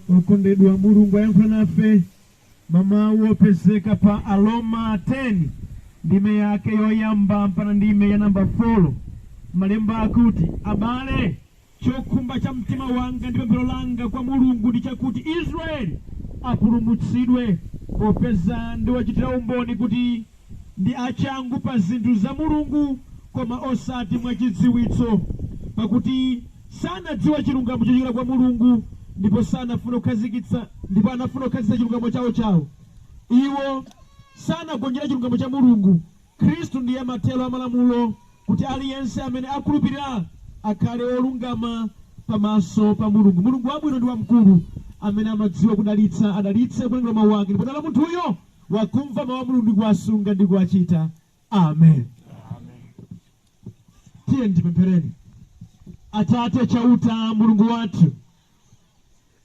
Okondedwa Mulungu ayankhula nafe mwa mawu opezeka pa Aroma 10 ndime yake yoyamba mpaka ndime ya namba 4. Malemba akuti, Abale, chokhumba cha mtima wanga ndi pemphero langa kwa Mulungu ndi chakuti Israeli apulumutsidwe, popeza ndiwachitira umboni kuti ndi achangu pa zinthu za Mulungu, koma osati mwa chidziwitso, pakuti sanadziwa chilungamo chochokera kwa Mulungu, ndipo sanafuna kukhazikitsa ndipo anafuna kukhazikitsa chilungamo chawo chawo. Iwo sanagonjera chilungamo cha Mulungu. Khristu ndiye mathero a malamulo, kuti aliyense amene akhulupirira akhale wolungama pamaso pa Mulungu. Mulungu wabwino ndi wamkulu, amene amadziwa kudalitsa, adalitse kuwerengedwa kwa mawu ake, ndipo dala munthuyo wakumva mau a Mulungu ndi kuwasunga ndi kuwachita. Amen. Tiyeni tipemphereni. Atate Chauta, Mulungu wathu,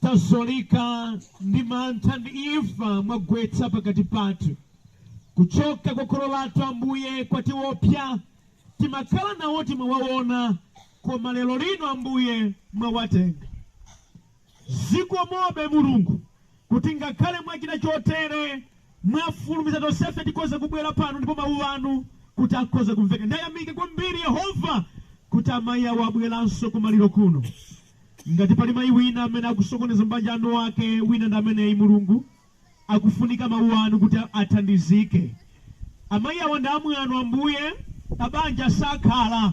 tazyolika ndi mantha ndi imfa mwagwetsa pakati pathu. Kuchoka kwa kholo lathu Ambuye kwatiwopsa, timakhala nawo timawaona, koma lero lino Ambuye mwawatenga. Zikomobe, Mulungu, kuti ngakhale mwachita chotere, mwafulumiza tonsefe tikhoze kubwera pano ndipo Mawu Anu kuti akhoze kumveka. Ndayamika kwambiri, Yehova, kuti amayi awo abweranso ku maliro kuno. Ngati pali mayi wina amene akusokoneza mabanja a eniake, wina ndi ameneyi, Mulungu. akufunika mau anu kuti athandizike. Amai awo ndi amwano Ambuye, pabanja sakhala.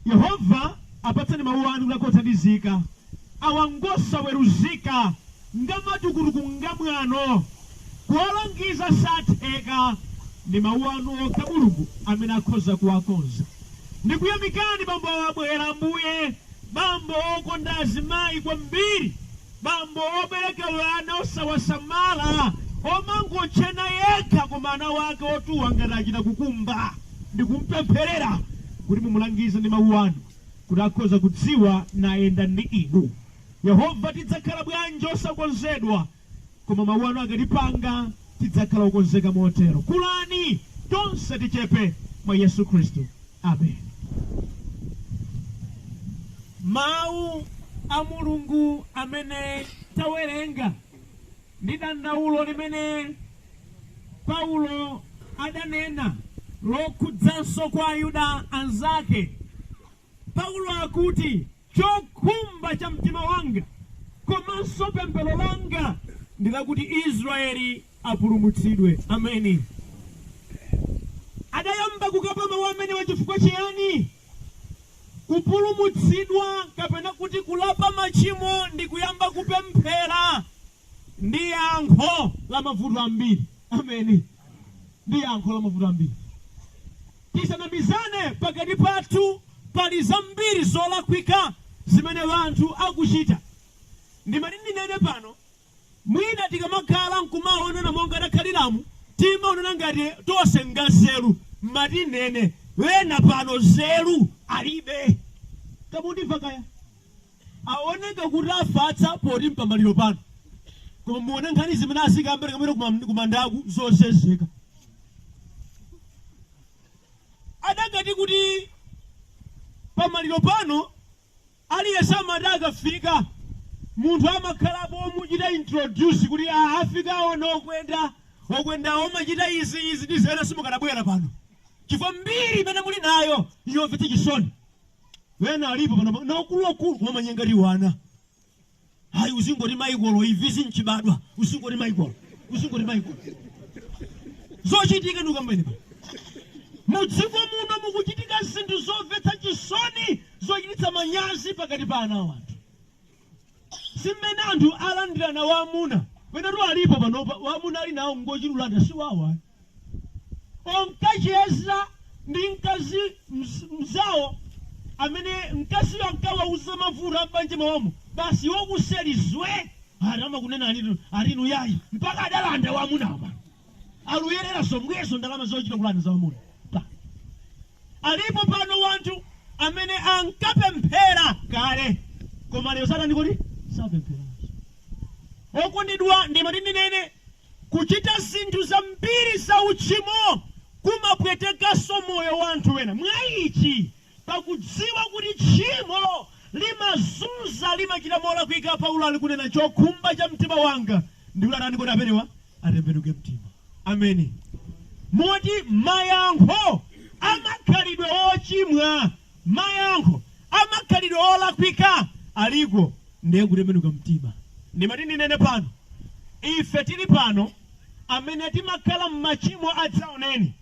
Yehova apatseni mau anu kuti akhoza kuthandizika. Awa ngosaweruzika, ngamatukutuku, ngamwano. Kuwalangiza satheka. Ndi mau anu okha Mulungu amene akhoza kuwakonza. Ndikuyamikani bambo awa abwera Ambuye, bambo okonda azimai kwambiri. Bambo obereka ana osawasamala, omangotchena yekha koma ana ake otuwa ngati achita kukumba, ndikumpempherera kuti mumulangize ndi mawu anu kuti akhoza kudziwa nayenda ndi inu. Yehova, tidzakhala bwanji osakonzedwa koma mawu anu akatipanga! tidzakhala okonzeka motero. Kulani! Tonse tichepe mwa Yesu Khristu. Amen. Mawu a Mulungu amene tawerenga ndi dandaulo limene Paulo adanena lokhudzanso kwa Ayuda anzake. Paulo akuti, Chokhumba cha mtima wanga komanso pemphero langa ndi lakuti Israyeli apulumutsidwe. Ameni. Adayamba kukamba mawu amenewa chifukwa chiyani? Kupulumutsidwa kapena kuti kulapa machimo ndi kuyamba kupemphera. Ndi yankho la mavuto ambiri. Ameni. Ndi yankho la mavuto ambiri. Tisanamizane pakati pathu pali zambiri zolakwika zimene wanthu akuchita. Ndimati ndinene pano mwina tikamakhala nkumaonana monga takhaliramu timaonana ngati tonse nganzeru, mmati nnene wena pano nzeru alibe. Kamundimva kaya? Awoneka kuti afatsa poti mpamaliro pano koma muone nkhani zimene azikamba tikamapita kumandaku zosezeka. Adakati kuti pamaliro pano aliyense amati akafika munthu amakhalapo omuchita introduce kuti aa afika aona okwenda, okwendawo amachita izi, izi ndi zina simukanabwera pano chifukwa mbiri imene muli nayo yomvetsa chisoni. Wena alipo panopa, na akuluakulu wamanyenga ati wana. Ayi uzingoti Maikolo, imvizi nchibadwa, uzingoti Maikolo, uzingoti Maikolo. Zochitika ndukambeni pa. Mudziko muno mukuchitika zinthu zomvetsa chisoni zochititsa manyazi pakati pa ana a wanthu. Si mmene anthu alandirana wamuna. Wenatu alipo panopa, amuna ali nawo ngochita kulanda, si wawo ayi. Onkacheza ndi mkazi mnzawo amene mkaziyo ankawauza za mavuto a m'banja mwawomo, basi iwo kuseri zwee! Ati amakunenanitu, ati inu yayi, mpaka adalanda wamuna apa. Aludyerera zomwezo ndalama zochita kulanda za wamuna. Alipo pano wanthu amene ankapemphera kale koma lero satani kodi sapemphera. Okondedwa ndimati ndinene kuchita zinthu zambiri za uchimo kumapwetekanso moyo wa anthu wena. Mwa ichi Pakudziwa kuti tchimo limazunza, limachita molakwika, Paulo ali kunena chokhumba cha mtima wanga ndi kuti atani kodi amenewa? Atembenuke mtima. Ameni. Moti mayankho a makhalidwe ochimwa, mayankho a makhalidwe olakwika aliko ndiye kutembenuka mtima. Ndimati ndinene pano, ife tili pano amene timakhala m'machimo adzaoneni,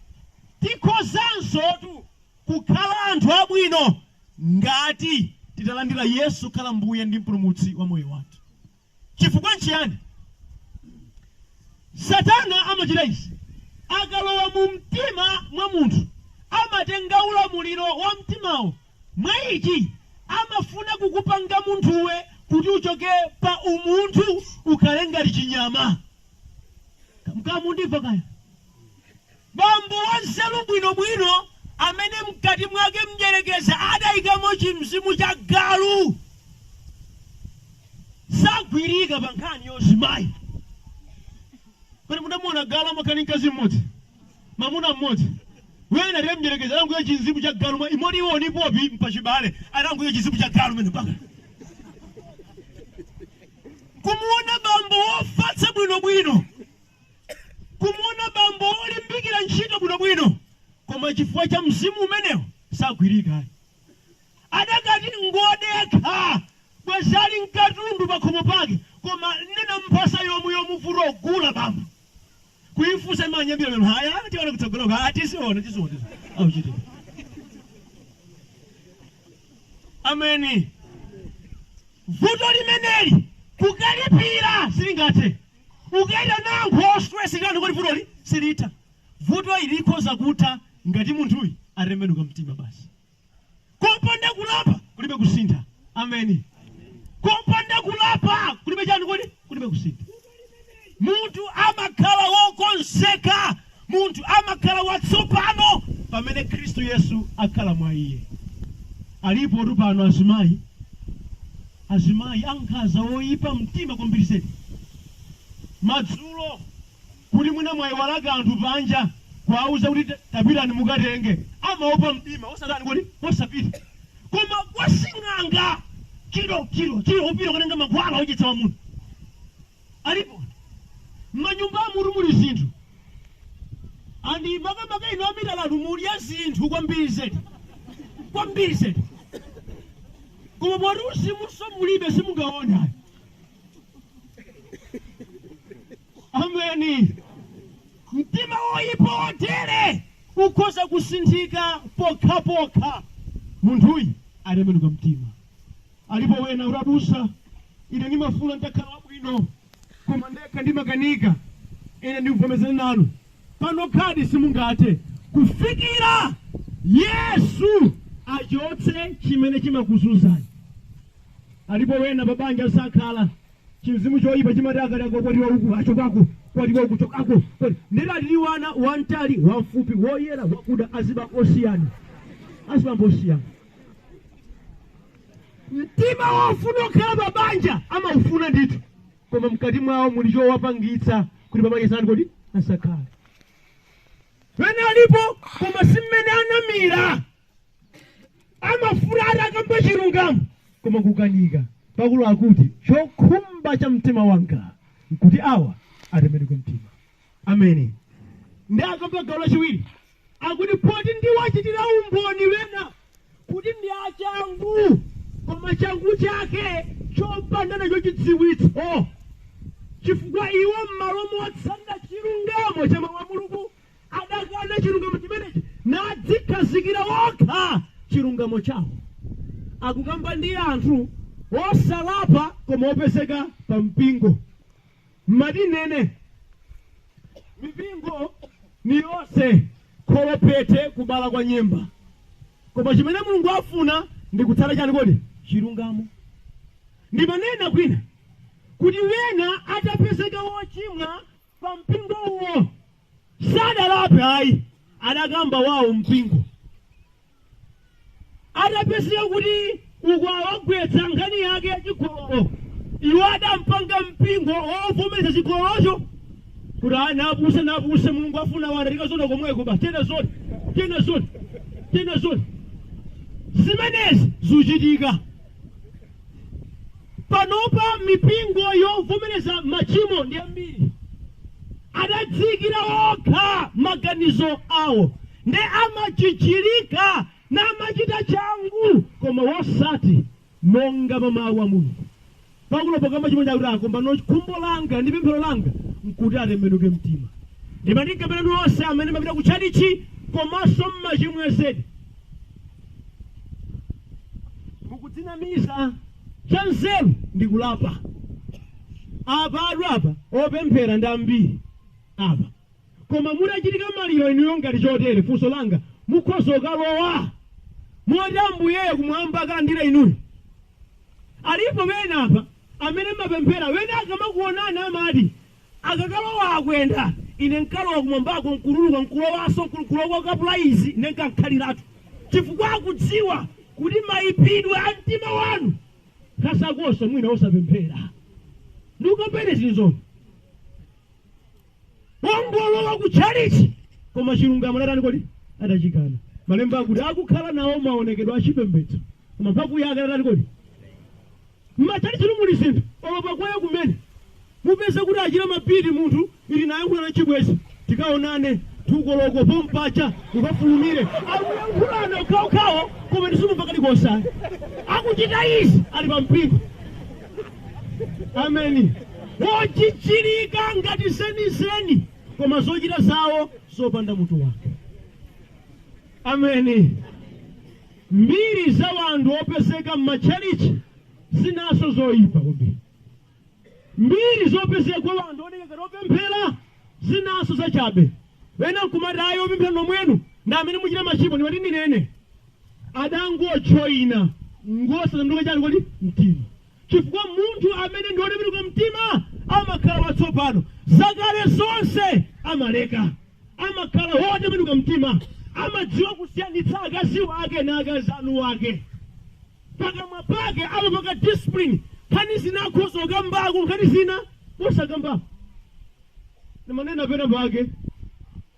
tikhozansotu. kukhala anthu abwino ngati titalandira Yesu kukhala Mbuye ndi Mpulumutsi wa moyo wathu. Chifukwa nchiyani? Satana amachita izi, akalowa mu mtima mwa munthu, amatenga ulamuliro wa mtimawo. Mwa ichi, amafuna kukupanga munthuwe kuti uchoke pa umunthu ukhale ngati chinyama. Mukundimva kaya? Bambo wanzeru bwinobwino amene m'kati mwake mdyerekezi adaikamo chimzimu cha galu sagwirika pa nkhani ya uzimayi. Kodi mudamuona galu amakhala ndi mkazi m'modzi? Mamuna m'modzi? Wena ati mdyerekezi adangoika chimzimu cha galu m'modzi iwo ni Popi Mpachibale adangoika chimzimu cha galu mene mpaka kumuona bambo wofatsa bwinobwino. kumuona bambo wolimbikira ntchito bwinobwino koma chifukwa cha mzimu umenewo sagwirika ayi. Adakati ngodekha bwezi ali nkatundu pakhomo pake koma nena mphasa yomwe yomuvuta kugula bambo kuifunsa imanyambita mimba aya tiona kutsogoloko aa tiziona tiziona tiziona auchitidwe ameni. Vuto limeneli kukalipira silingathe. Ukaitana ankhoswe sikuti vutoli silitha. Vuto ili likhoza kutha ngati munthuyi atembenuka mtima basi. Kopanda kulapa kulibe kusintha. Ameni. Kopanda kulapa kulibe chani kodi? Kulibe kusintha. Munthu amakhala wokonzeka Munthu amakhala watsopano pamene Khristu Yesu akhala mwa iye. Alipotu pano azimayi, azimayi ankhaza oipa mtima kwambiri zedi. Madzulo kuti mwina mwaiwala kanthu panja kuwauza kuti tapitani mukatenge, amaopa mdima osatani kodi, osapita. Koma kwa sing'anga kiro kiro kiro kupita kukatenga mankhwala odyetsa wamuna. alipo mmanyumbamutu muli zinthu and makamaka inu amitala inu mudya zinthu kwambiri zedi kwambiri zedi koma poti uzimuso mulibe simungaone ayi ameni mtima woyipa wotere ukhoza kusinthika pokhapokha munthuyi atembenuka mtima Alipo wena oti abusa, ine nimafuna nitakhala wabwino, koma ndekha ndimakanika. Ine ndibvomerezana nanu, panokhadi simungathe kufikira Yesu achotse chimene chimakuzunzani. Alipo wena pabanja sakhala chimzimu choyipa chimati akakwatiwa uku achokako kwatiwa uku chokako kwati ndera tili ana wamtali wamfupi woyera wakuda azibambo osiyana azibambo osiyana mtima wofuna kukhala pa banja amaufuna ndithu koma mkati mwawo muli chowapangitsa kuti pa banja atani kodi asakhale wena alipo koma si mmene anamira amafuna atakamba chilungamo koma kukanika Paulo akuti chokhumba cha mtima wanga nkuti awa atembenuke mtima ameni ndiye akamba gawo lachiwiri akuti poti ndiwachitira umboni ena kuti ndi achangu koma changu chake chopanda nacho chidziwitso chifukwa iwo m'malo motsatira chilungamo cha mawu a mulungu adakana chilungamo chimenechi nadzikhazikira okha chilungamo chawo akukamba ndi anthu osalapa koma opezeka pa mpingo Mmati nnena? Mipingo ni yonse kholophete kubala kwa nyemba. Koma chimene Mulungu afuna ndi kutsata chani kodi? Chilungamo. Ndimanena kwina kuti wena atapezeka wochimwa pa mpingo uwo sadalape ayi adakamba wawo mpingo. atapezeka kuti uko awagwetsa nkhani yake ya chigololo iwo adapanga mpingo wovomereza chigololocho kuti napuse napuse mulungu afuna wana tikaona komweko basi tena zoni tena zoni tena zoni zimenezi zuchitika panopa mipingo yovomereza machimo ndi ambiri adadziikira okha maganizo awo nde amajijirika namachita changu koma wosati monga mwa mawu a Mulungu. Paulo pokamba chimene akuti apa mbano khumbo langa ndi pemphero langa nkuti atembenuke mtima. Ndimanena pena nonse amene mumapita ku tchalitchi komanso mmachimwa zedi. Mukudzinamiza cha nzeru ndi kulapa. Apa atu apa opemphera ndi ambiri apa. Koma mutachitika maliro inuyo ngati chotere, funso langa, mukhoza kukalowa moti Ambuyeyo kumwamba akalandira inuyo? Alipo pena apa amene mmapemphera, wena akamakuonani amati, akakalowa akwenda, ine nkalowa kumwambako nkutuluka nkulowaso, ku- kulowa kapula izi, ine nkakhaliratu. Chifukwa akudziwa kuti maipidwe a mtima wanu kasakoso mwina osapemphera. Ndikukamba ine zinzoni. wongolowa ku tchalitchi koma chilungamo atani kodi adachikana malemba akuti akukhala nawo maonekedwe a chipembedzo koma mphamvu yake atani kodi mmatchalitchi muli zinthu olo pa kwaya kumene mupeze kuti achira mapiri munthu ili nayankhula na chibwezi tikaonane tu koloko pompaja ukafulumire akuyankhulana okhaokhawo koma simumva kalikonse akuchita izi ali pa mpingo ameni wojijirika ngati zenizeni koma zochita zawo zopanda mutu wake ameni mbiri za wanthu opezeka m'matchalichi zinaso zoyipa kwambiri mbiri zopezeka kwa wanthu oneka ngati opemphera zinaso zachabe wena nkumati ayi opemphera nomwenu ndi amene muchita machimo ndimati ndinene adangojoina ngosasanduka chani kodi mtima chifukwa munthu amene ndi wotembenuka mtima amakhala watsopano zakale zonse amaleka amakhala wotembenuka mtima amadziwa kusiyanitsa akazi wake na akazi a mwini wake pakamwa pake amapaka discipline nkhani zina akhoza kukambako nkhani zina osakambako ndimanena pena pake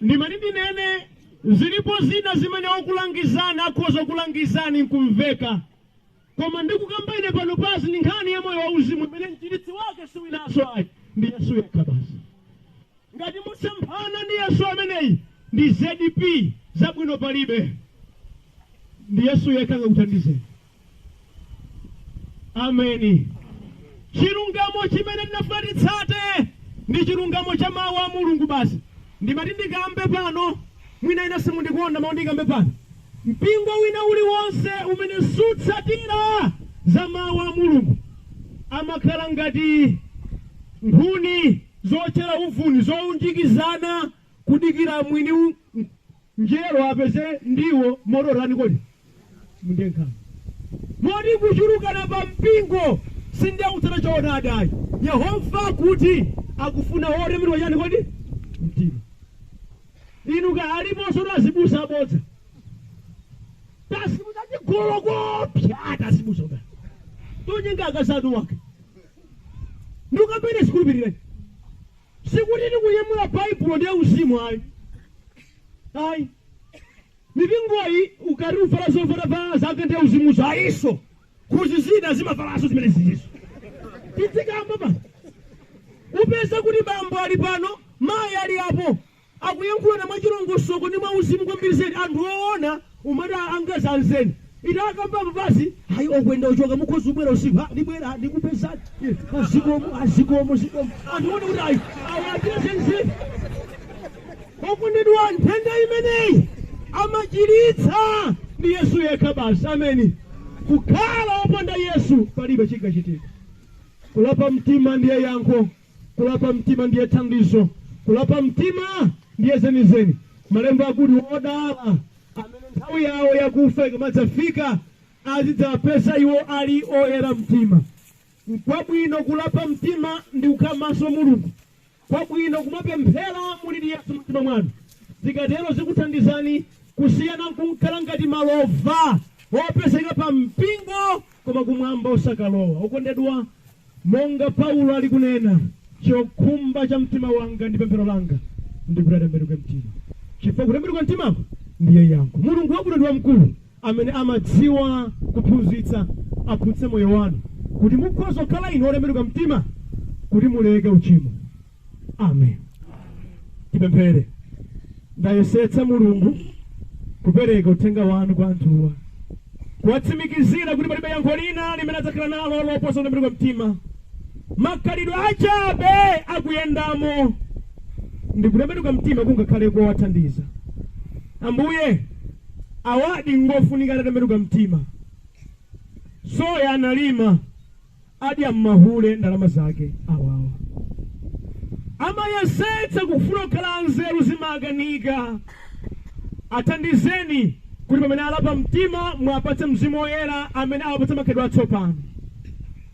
ndimati ndinene zilipo zina zimene okulangizani akhoza kulangizani nkumveka koma ndikukamba ine panopazi ndi nkhani ya moyo wauzimu imene mchiritsi wake siwinaso ayi ndi yesu yekha basi ngati musemphana ndi yesu ameneyi ndi zdp zabwino palibe ndi yesu yekha angakuthandizeni Ameni. Chilungamo chimene tinafuna titsate ndi chilungamo cha mawu a Mulungu basi. Ndimati ndikambe pano, mwina ena simundikonda mawu ndikambe pano. Mpingo wina uliwonse umene sutsatira za mawu a Mulungu amakhala ngati nkhuni zootchera uvuni zounjikizana kudikira mwini njerwa apeze ndiwo moto atani kodi nde nkhani moti kuchulukana pa mpingo sindiye kutsata choonadi ayi yehova akuti akufuna wotembenuka chani kodi mtima inu ka aliponso tazibusa abodza tazibusa chigololo koopsa tazibusa ka tonyenga akazi a mwini wake ndikukamba ine simukhulupirira Sikuti ndikunyamula Baibulo ndiye uzimu ayi. Ayi. Mipingoyi ukati uvala zovala zake ndi uzimunso ayinso. Kuti zina zimavalanso zimene izizo. Tidzikamba pano. Upeza kuti bambo ali pano, mayi ali apo. akuyankhulana mwachilongosoko ndi mwauzimu kwambiri zedi anthu oona umati angaa zenizeni ita akamba apa basi ayi okwenda ochoka mukhoza ubwera usiku ha ndibwera ndikupezani Eh, ah, zikomo ah, zikomo zikomo anthu one kuti ayi awa achita zenizeni okondedwa nthenda imeneyi amachiritsa ndi yesu yekha basi amen kukhala opanda yesu palibe chingachitika kulapa mtima ndiye yankho Kulapa mtima ndiye thandizo. Kulapa mtima ndiye zenizeni. Malemba akuti, Odala amene nthawi yawo yakufa ikamadzafika, azidzapeza iwo ali oyera mtima. Nkwabwino kulapa mtima ndi kukhala pamaso Mulungu. Nkwabwino kumapemphera muli ndi Yesu mumtima mwanu. Zikatero zikuthandizani kusiyana nkukhala ngati malova opezeka pa mpingo koma kumwamba osakalowa. Okondedwa, monga Paulo ali kunena, chokhumba cha mtima wanga ndi pemphero langa ndi kuti atembenuke mtima, chifukwa kutembenuka mtimako ndiye yankho. Mulungu wabwino ndi wamkulu amene amadziwa kuphunzitsa aphunzitse moyo wanu kuti mukhoza kukhala inu otembenuka mtima kuti muleke uchimo. amen tipemphere ndayesetsa mulungu kupereka uthenga wanu kwa anthuwa kuwatsimikizira kuti palibe yankho lina limene adzakhala nalo loposa kutembenuka mtima makhalidwe achabe akuyendamo ndi kutembenuka mtima kungakhale kowathandiza ambuye awadi ngofunika atatembenuka mtima soya analima adya mmahule ndalama zake awawa. Amayesetsa kufuna kukhala anzeru zimaakanika. Athandizeni kuti pamene alapa mtima muwapatse mzimu woyera amene awapatsa makhalidwe atsopano.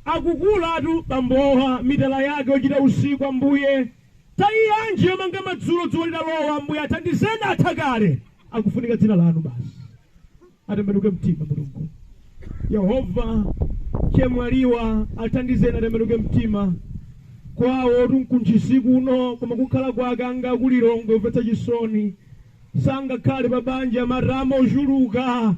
Akukulatu bambowa mitala yake yochita usiku ambuye. Tayi yanji yomanga madzulo dzuwa litalowa ambuye athandizeni atha kale. Akufunika dzina lanu basi. atembenuke mtima mulungu yehova chemwaliwa athandizeni atembenuke mtima kwawo tunkunthisi kuno koma kukhala kwake anga kulilongo yomvetsa chisoni sangakhale pa banja matama ochuluka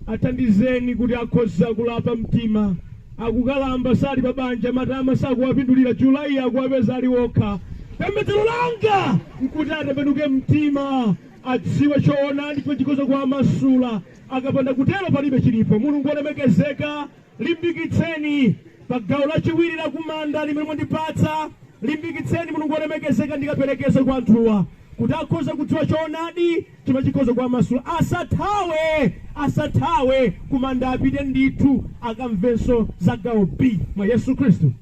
athandizeni kuti akhoza kulapa mtima akukalamba sali pa banja matama sakuwapindulira julayi akuwapeza ali okha pembedzero langa nkuti atembenuke mtima adziwe choonadi chimene chikhoza kuwamasula. Akapanda kutero palibe chilipo. Mulungu wolemekezeka, ndilimbikitseni pa gawo lachiwiri la kumanda limene mwandipatsa. Ndilimbikitseni Mulungu wolemekezeka, ndikaperekeze kwa anthuwa kuti akhoza kudziwa choonadi chimene chikhoza kuwamasula. Asathawe, asathawe kumanda, apite ndithu akamvenso za gawo B mwa Yesu Khristu.